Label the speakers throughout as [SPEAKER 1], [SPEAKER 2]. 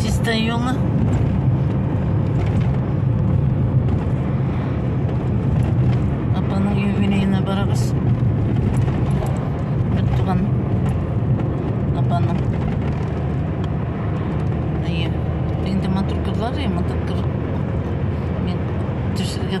[SPEAKER 1] Чистая юлы. Апаның юбилейына барабыз. Бер туган апаның. Әйе. Инде матур кызлар, матур кыр. Мин төшергә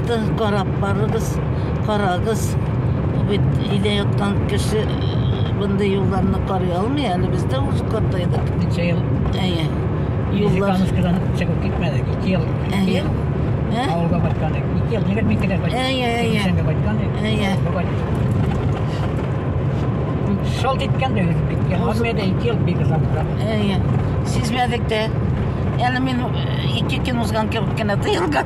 [SPEAKER 1] Хатты карап барыгыз, карагыз. Бу бит өйдә яткан кеше бынды юлларны карый алмый әле без дә үз картайдык. Ничә ел? Әйе. Юллар. Музыкадан чыгып китмәдек. Ике ел. Ике ел. Ә? Авылга барган идек. Ике ел егет микедә барган. Әйе, әйе. Сәнгә барган идек. Әйе. Шалт иткән дә узып киткән. Армиядә ике ел бик озак тора. Әйе. Сизмәдек тә. Әле мин ике көн узган кебек кенә тоелган.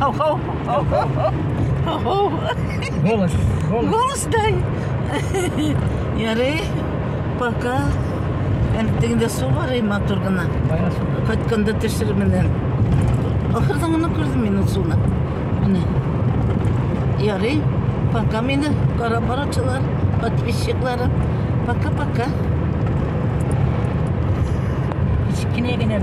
[SPEAKER 1] Ho, ho, ho, ho, ho. Ho, ho. Голос, голос. Голос дай. Ярый, пока. Әле тегендә су бар, и матур гына. Бая су. Кайтканда тешерменен. Ахырдан гына күрдем мин ул суны. Менә. Ярый, пока мине кара барачылар, подписчикларым. Пока-пока. Кечкенә генә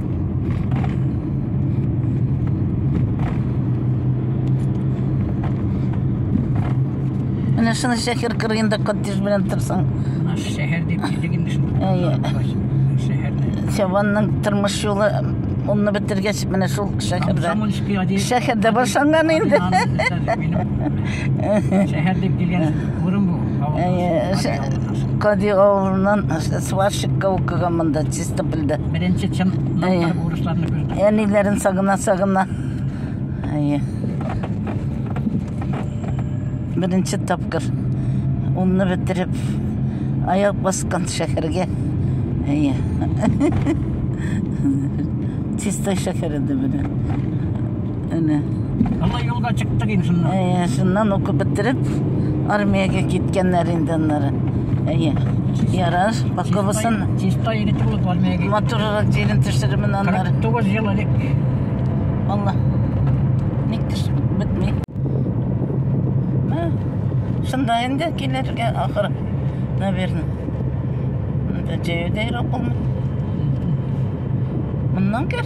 [SPEAKER 1] Менә шуны шәһәр кырыенда коттедж белән торсаң. Шәһәр дип килдек инде шунда. Әйе. Сәванның тормыш юлы онны бетергәч менә шул шәһәрдә. Шәһәрдә башланган инде. Шәһәр дип килгән урын бу. Әйе. Кади авылыннан сварщикка укыган монда. Тып белде. Беренче чын Әйе. бурычларны күрдем. Әниләрен сагына сагына. Әйе. Беренче тапкыр унны бетереп аяк баскан шәһәргә. Әйе. Чистай шәһәре дә белән. Әнә. Ана юлга чыктык инде шуннан. Әйе, шуннан укып бетереп, армиягә киткәннәр инде аннары. Әйе. Ярар, паковасын. Чистай иде тулып армиягә. Моторрак җирен төшеремен аннары. 49 ел элек. Алла. Ник төшеп бетми? Шунда инде килергә ахыр. Наверное. Монда җәю дә юк булмый. Моннан кер.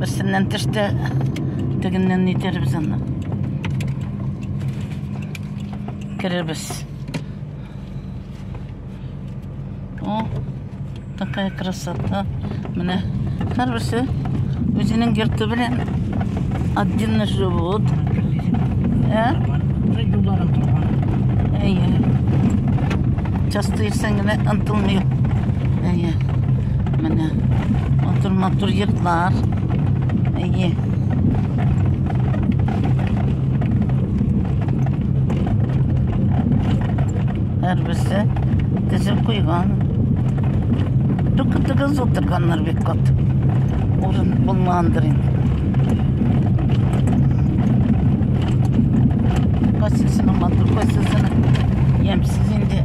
[SPEAKER 1] Берсеннән төште, тегеннән нитербез аны. Керербез. О, такая красота. Менә һәрберсе үзенең йорты белән отдельно живут. Ә? Юлларын торган. Әйе. Часто ирсәң генә ынтылмый. Әйе. Менә матур-матур йортлар. Әйе. Һәрберсе тезеп куйган. Тукытыгыз утырганнар бик кат. Урын булмагандыр инде. Кайсысының матур, кайсысының ямьсез инде.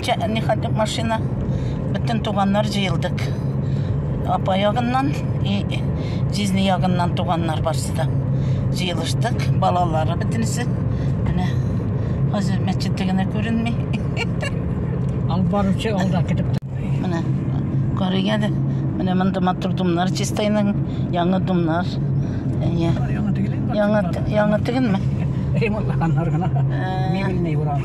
[SPEAKER 1] Чәнни хатып машина. Бөтен туганнар җыелдык. Апа ягыннан и җизни ягыннан туганнар барсы да. Җыелыштык. Балалары бөтенесе. Менә хәзер мәчете генә күренми. Алып баручы алда китеп Менә карыйга да. Менә монда матур думнар чистайның яңа думнар. Әйе. Яңа тегелме? Ремонтлаганнар гына. Мебельный буран.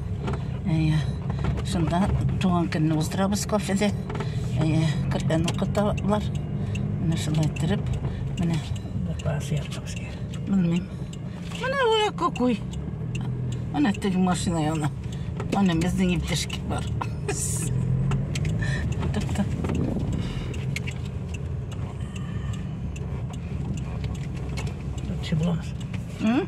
[SPEAKER 1] Шунда туган көнне уздырабыз кофеде. Әйе, кырдан укыталар. Менә шулай иттереп, менә класс яртыбыз кер. Белмим. Менә уя кукуй. Менә теге машина яна. Менә безнең иптәшке бар. Тукта. Чебламыз. М?